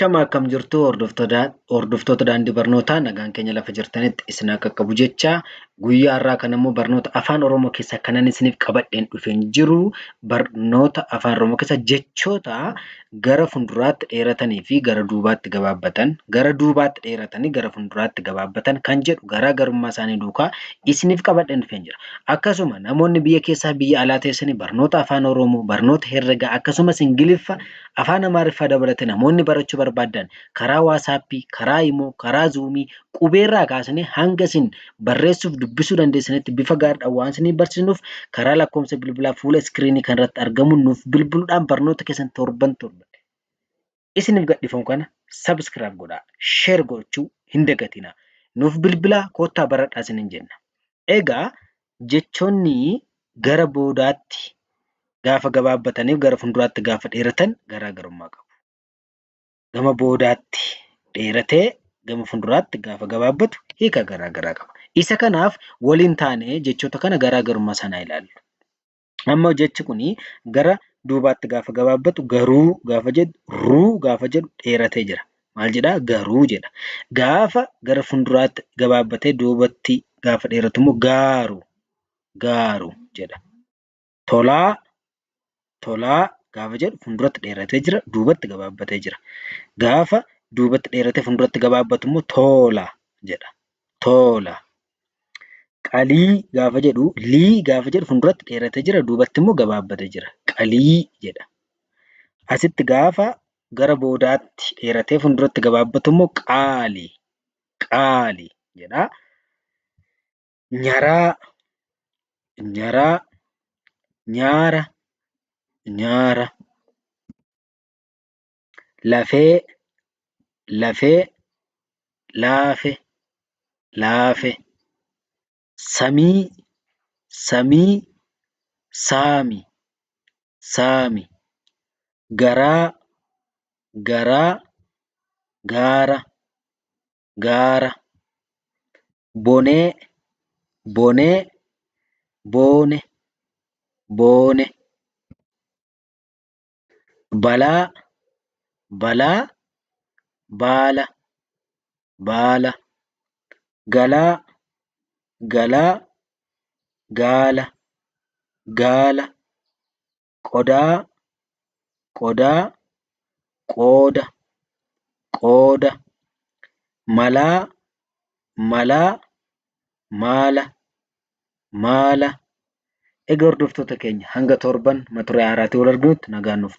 Shama akkam jirtu hordoftoota daandii barnootaa nagaan keenya lafa jirtanitti isin haa qaqqabu jecha guyyaa har'aa kana immoo barnoota afaan oromoo keessa kanan isiniif qabadheen dhufeen jiru barnoota afaan oromoo keessa jechoota gara fuulduraatti dheeratanii fi gara duubaatti gabaabbatan gara duubaatti dheeratanii gara fuulduraatti gabaabbatan kan jedhu garaa garummaa isaanii duukaa isiniif qabadheen dhufeen jira akkasuma namoonni biyya keessaa biyya alaa teessanii barnoota afaan oromoo barnoota herregaa akkasumas ingiliffa Afaan Amaariffaa dabalatee namoonni barachuu barbaaddan karaa waasaappii, karaa imoo, karaa zuumii qubeerraa kaasnee hanga isin barreessuuf dubbisuu dandeessanitti bifa gaariidhaan waan isinii barsiisnuuf karaa lakkoofsa bilbilaa fuula iskiriinii kanarratti argamuun nuuf bilbiluudhaan barnoota keessan torban torban isiniif gadhiifamu kana sabiskiraayib godhaa sheer gochuu hin dagatinaa nuuf bilbilaa koottaa baradhaa isiniin jenna. Egaa Jechoonni gara boodaatti gaafa gabaabbataniif gara fuulduraatti gaafa dheeratan garaa garummaa qabu. Gama boodaatti dheeratee gama fuulduraatti gaafa gabaabbatu hiika garaa garaa qaba. Isa kanaaf wal hin taane jechoota kana garaa garummaa isaan haa ilaallu. Amma jechi kun gara duubaatti gaafa gabaabbatu garuu gaafa jedhu ruu gaafa jedhu dheeratee jira. Maal jedha? Garuu jedha. Gaafa gara fuulduraatti gabaabbatee duubatti gaafa dheeratu immoo gaaru gaaru jedha. Tolaa tolaa gaafa jedhu fuulduratti dheeratee jira duubatti gabaabbatee jira. Gaafa duubatti dheeratee fuulduratti gabaabbatu immoo toola jedha. Toola Qalii gaafa jedhu lii gaafa jedhu fuulduratti dheeratee jira duubatti immoo gabaabbatee jira. Qalii jedha. Asitti gaafa gara boodaatti dheeratee fuulduratti gabaabbatu immoo qaali qaali jedha. Nyaraa nyaraa nyaara nyaara. lafee lafee laafe laafe samii samii saami saami garaa garaa gaara gaara bonee bonee boone boone. balaa balaa baala baala galaa galaa gaala gaala qodaa qodaa qooda qooda malaa malaa maala maala. Egaa hordoftoota keenya hanga torban mata duree haaraatiin wal arginutti nagaan nuuf tura.